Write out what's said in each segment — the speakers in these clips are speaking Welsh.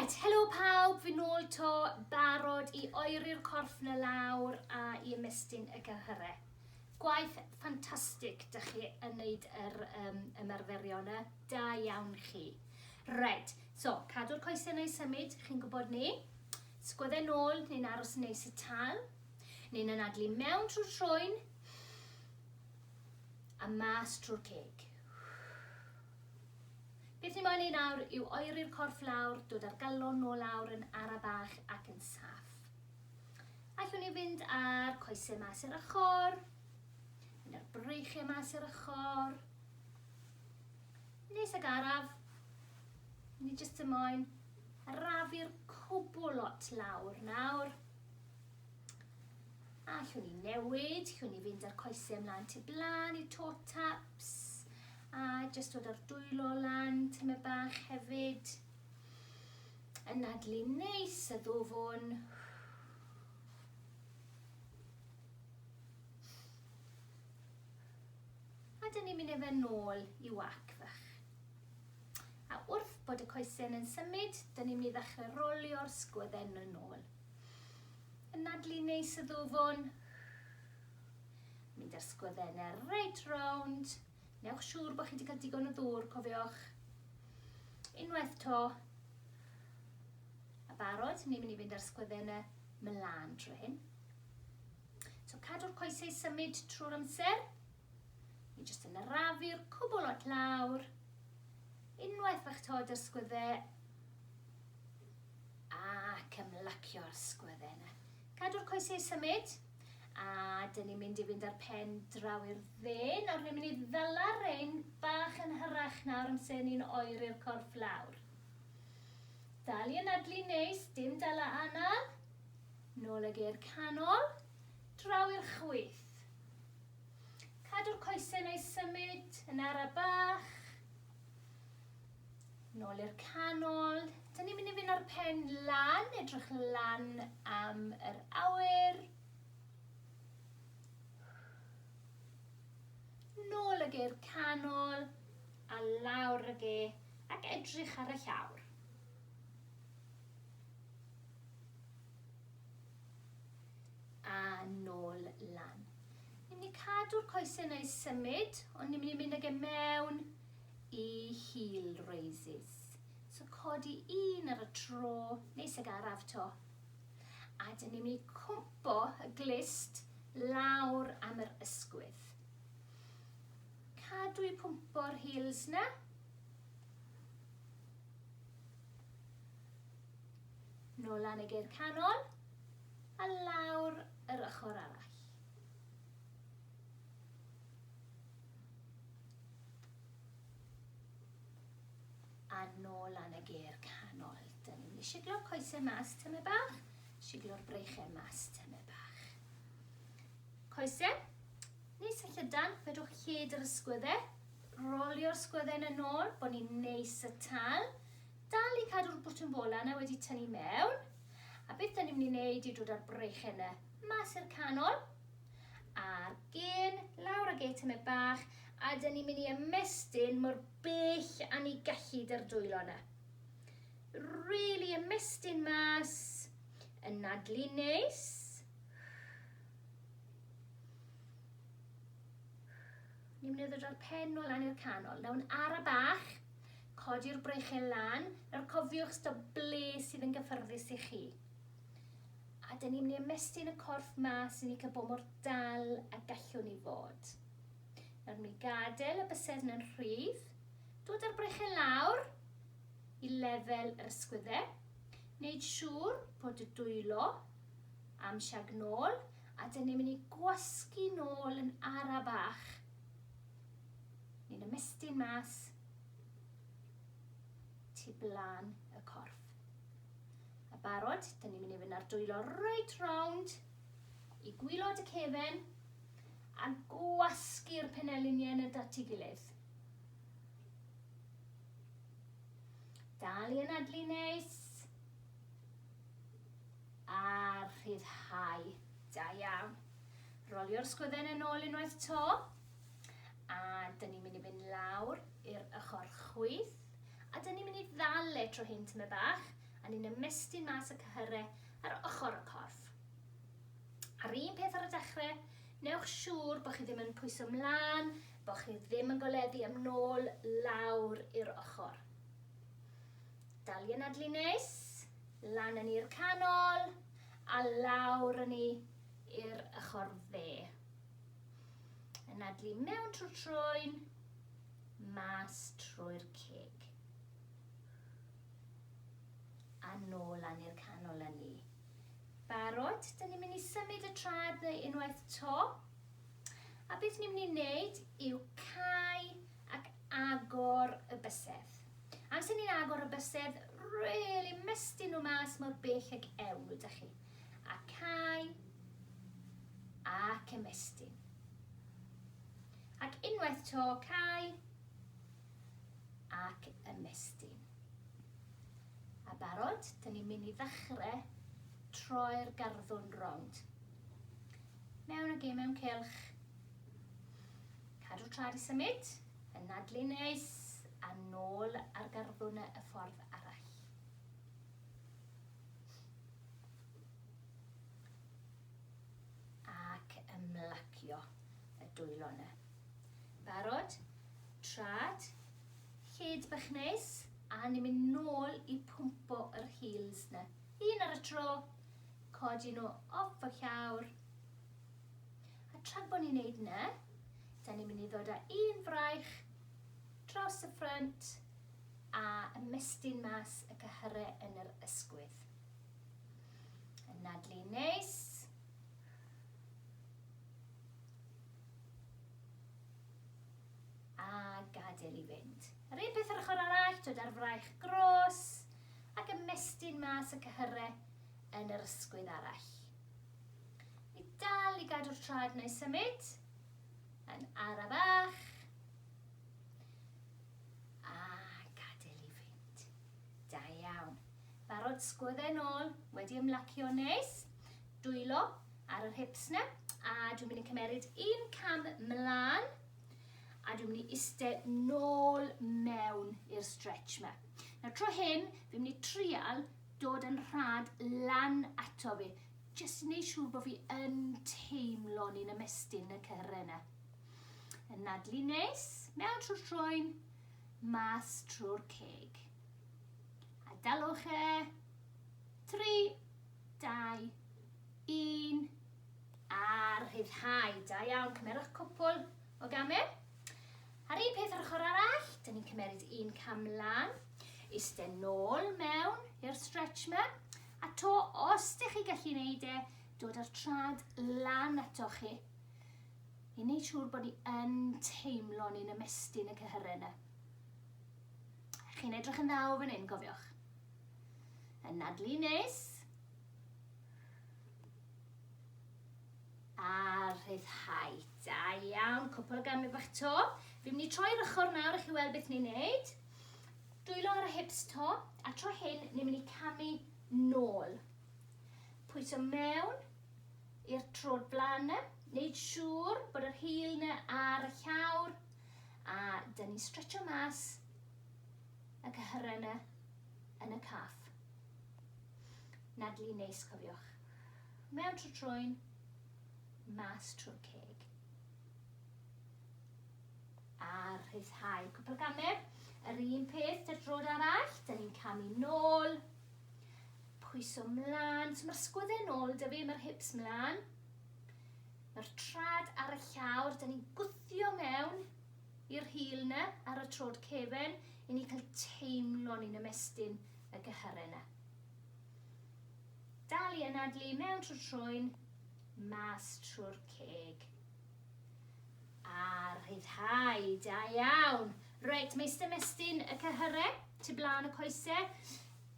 Reit, helo pawb, fi nôl to, barod i oeri'r corff na lawr a i ymestyn y gyhyre. Gwaith ffantastig dych chi yn neud yr um, ymarferion y, da iawn chi. Reit, so, cadw'r coesau neu symud, chi'n gwybod ni. Sgwydde nôl, ni'n aros yn neis y tal. Ni'n anadlu mewn trwy'r trwyn a mas trwy'r ceg. Beth ni moyn ei nawr yw oeri'r corff lawr, dod â'r galon nôl lawr yn ara bach ac yn saff. Allwn ni fynd â'r coesau mas i'r ochr, mynd â'r breichiau mas i'r ochr. Nes ag araf, ni jyst y moyn arafu'r cwbl lot lawr nawr. Allwn ni newid, llwn ni fynd â'r coesau ymlaen tu blaen i'r toe taps, A jyst dod o'r dwylo lan tyme bach hefyd. Yn nadlu neis y ddwfwn. A dyn ni'n mynd â fe nôl i wac fach. A wrth bod y coesyn yn symud, dyn ni'n mynd i ddechrau rolio'r sgwydden yn ôl. Yn nadlu neis y ddwfwn. Mynd â'r sgwydden reit rownd. Newch siŵr bod chi wedi cael digon o ddŵr, cofiwch. Unwaith to. A barod, ni'n mynd i fynd ar sgwydden y mlaen trwy hyn. So cadw'r coesau i symud trwy'r amser. Ni jyst yn arafu'r cwbl at lawr. Unwaith fach to dy'r sgwydde. Ac ymlacio'r sgwydde yna. Cadw'r coesau i symud. A dyn ni'n mynd i fynd ar pen draw i'r dde. Nawr ni'n mynd i ddala'r rein bach yn hyrach nawr yn lle ni'n oeri'r corff lawr. Dal i anadlu neis, dim dala anal. Nôl ag e'r canol, draw i'r chwith. Cadw'r coesau neu symud yn ara bach. Nôl i'r canol. Dyn ni'n mynd i fynd â'r pen lan, edrych lan am yr awyr. Nôl ag i'r canol, a lawr ag e, ac edrych ar y llawr. A nôl lan. Ni'n mynd i cadw'r coesau yn ei symud, ond ni'n mynd i mynd ag e mewn Y heel raises. So codi un ar y tro, neis ag araf to. A dyn ni'n mynd i cwmpo y glist lawr am yr ysgwydd. Cadw i pwmpo'r heels na. Nôl lan y geir canol a lawr yr ochr arall. A nôl lan y gêr canol. Dyn ni'n mynd i siglo'r coesau mas tymed bach, siglo'r breichau mas tymed bach. Coesau, neis a llydan, fedrwch hyd yr ysgwyddau, rolio'r sgwyddau yn y nôl, bod ni'n neis y tal, dal i cadw'r bwtwm bola yna wedi tynnu mewn, a beth dyn ni'n mynd i wneud yw dod â'r breichau yna mas i'r canol, A'r gên, lawr ag e tymed bach, a dyn ni'n mynd i ymestyn mor bell a ni gallu dy'r dwylo yna. Really ymestyn mas, yn nadlu neis. Ni'n mynd i ddod o'r pen o lan i'r canol. Naw'n ar y bach, codi'r brechel lan, nawr cofiwch sto ble sydd yn gyffyrddus i chi. a 'dyn ni'n mynd i ymestyn y corff mas i ni cael bod mor dal a gallwn ni fod. Nawr mynd i gadael y bysedd yn rhydd, dod â'r brechen lawr i lefel yr ysgwydde, wneud siŵr bod y dwylo am siag nôl, a dyn ni'n mynd i gwasgu nôl yn ara bach. Ni'n ymestyn mas tu blaen y corff. A barod, da ni'n mynd i fynd ar dwylo reit rownd i gwylod y cefen a gwasgu'r peneliniau yn y dat i gilydd. Dal i anadlu neis a rhyddhau. Da iawn. Rolio'r sgwydden yn ôl unwaith to a dyn ni'n mynd i fynd lawr i'r ochr chwyth a dyn ni'n mynd i ddal e tro hyn tyma bach a ni'n ymestyn mas y cyhyrau ar ochr y corff. A'r un peth ar y dechrau, newch siŵr bod chi ddim yn pwyso mlaen, bod chi ddim yn goledu am nôl lawr i'r ochr. Dal i anadlu neis, lan yn i'r canol, a lawr yn i i'r ochr dde. Anadlu mewn trwy troen, mas trwy'r ceg. A nôl a ni'r canol a ni. Barod? Dyn ni'n mynd i symud y trad neu unwaith to. A beth ni'n mynd i wneud yw cau ac agor y bysedd. Amser ni'n agor y bysedd, really mystu nhw mas mor bell ag ewl, da chi. A cau ac ymestyn. Ac unwaith to, cau ac ymestyn. A barod? Dyn ni'n mynd i ddechre troi'r garddwrn rownd. Mewn ag e mewn cylch. Cadw trad i symud, yn nadlu neis, a nôl ar garddwrn y ffordd arall. Ac ymlacio y dwylo yna. Barod? Trad? Lled bach neis? A ni'n mynd nôl i pwmpo yr heels 'na. Un ar y tro. Codi nhw off y llawr. A tra bod ni'n neud 'na, da ni'n mynd i ddod â un fraich draws y ffrynt a ymestyn mas y cyhyrau yn yr ysgwydd. Yn nadlu neis. A gadael i fynd. Yr un peth yr ochr arall, dod â'r fraich gros ac ymestyn mas y cyhyre yn yr ysgwydd arall. Ni dal i gadw'r trad neu symud yn ara bach. A gadael i fynd. Da iawn. Barod sgwydde nôl, wedi ymlacio nes. dwylo ar yr hips na, a dwi'n mynd i cymeryd un cam mlaen, a dwi'n mynd i iste nôl mewn i'r stretch ma. Nawr tro hyn, fi'n mynd i trial dod yn rhad lan ato fi, jyst i wneud siŵr bod fi yn teimlo ni'n ymestyn y cyhre yna. Yn nadlu nes, mewn trwy'r troen, mas trwy'r ceg. A dalwch e, tri, 2, 1, a rhyddhau. Da iawn, cymerwch cwpl o gamau. A'r un peth yr ochr arall, dyn ni'n cymeryd un cam lan, iste nôl mewn i'r stretch yma, a to os ydych chi gallu gwneud e, dod â'r trad lan ato chi, i wneud siŵr bod ni yn teimlo ni'n ymestyn y cyhyrau yna. Chi'n edrych yn ddaw fan hyn, cofiwch. Yn nadlu nes. A rhyddhau. Da iawn, cwpl o gamau bach to. Fi'n mynd i troi'r ochr nawr i chi weld beth ni'n neud. Dwylo ar y hips to, a tro hyn ni'n mynd i camu nôl. Pwyso mewn i'r trod blaen yna, wneud siŵr bod yr hil yna ar y llawr, a dyn ni'n stretcho mas y cyhyrena yn y caff. Nadlu neis cofiwch. Mewn trwy trwyn, mas trwy'r ceg. A rhyddhau cwpl o gamer. Yr un peth, dy'r drod arall, dyn ni'n camu nôl. Pwyso mlaen, so mae'r sgwydde nôl dy fi, mae'r hips mlaen. Mae'r trad ar y llawr, dyn ni'n gwthio mewn. I'r hil ne, ar y trod cefen, i ni cael teimlo ni'n ymestyn y gyhyre ne. Dal i anadlu mewn trwy'r troen, mas trwy'r ceg. A rhyddhau, da iawn. Reit, mae eistedd mestyn y cyhyre, tu blaen y coese.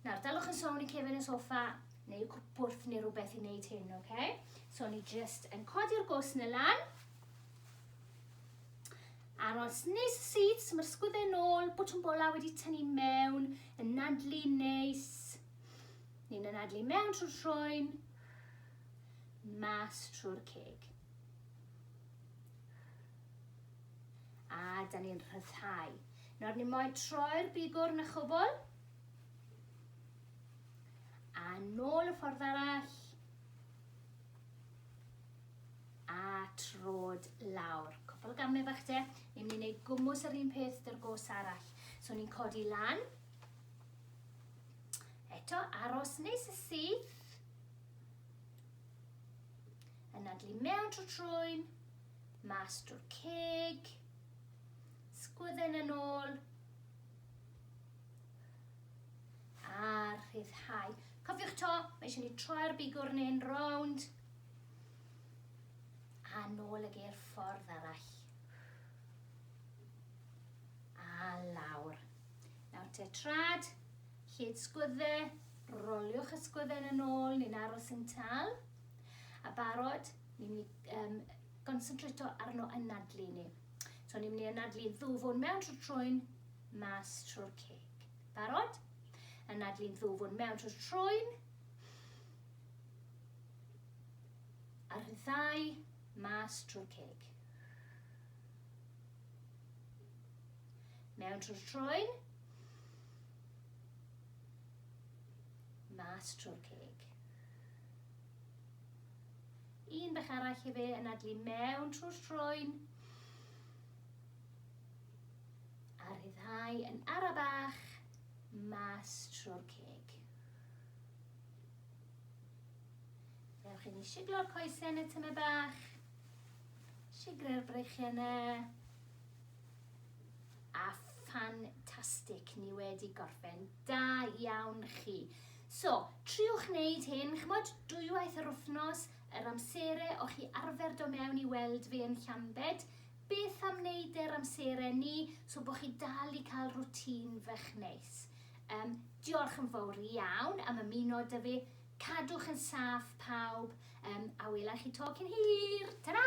Nawr, dalwch yn sôn i cefen y sofa, neu cwpwrth neu rhywbeth i wneud hyn, oce? Okay? So, ni just yn codi'r gos na lan. Aros neis y syth, so mae'r sgwydde nôl, bwtwm bola wedi tynnu mewn, yn nadlu neis. Ni'n yn nadlu mewn trwy'r troen, mas trwy'r ceg. A da ni'n rhyddhau. Nawr ni moyn troi'r bigwr yn y chwbl. A nôl y ffordd arall. a trod lawr. Cwpl o gamau bach de. Ni'n mynd i wneud gwmws yr un peth dy'r gos arall. So ni'n codi lan. Eto, aros neis y syth. Yn adlu mewn trwy trwy'n, mas drwy'r ceg. Sgwydden yn ôl. A rhyddhau. Cofiwch to, mae eisiau ni troi'r bigwrn yn rownd. A nôl ag e'r ffordd arall. A lawr. Nawr te trad, lled sgwydde, roliwch y sgwydden yn ôl, ni'n aros yn tal. A barod, ni'n mynd i um, gonsentrato arno anadlu ni. So ni'n mynd i anadlu ddwfwn mewn trwy'r trwyn, mas trwy'r ceg. Barod? Anadlu'n ddwfwn mewn trwy'r trwyn, A'r ddau mas trwy'r ceg. Mewn trwy'r troen. Mas trwy'r ceg. Un bach arall i fe yn adlu mewn trwy'r troen. A rhyddhau yn ara bach mas trwy'r ceg. Ewch i ni siglo'r coesau yn y tyme bach. Sigrau'r breichiau yna. A ffantastig, ni wedi gorffen. Da iawn chi. So, triwch wneud hyn, chymod, dwywaith yr wythnos, yr amserau o chi arfer do mewn i weld fi yn Llambed, beth am wneud e'r amserau ni, so bod chi dal i cael rwtîn fach neis. Yym, diolch yn fowr iawn am ymuno 'da fi. Cadwch yn saff pawb, yym, a welai chi 'to cyn hir! Tara!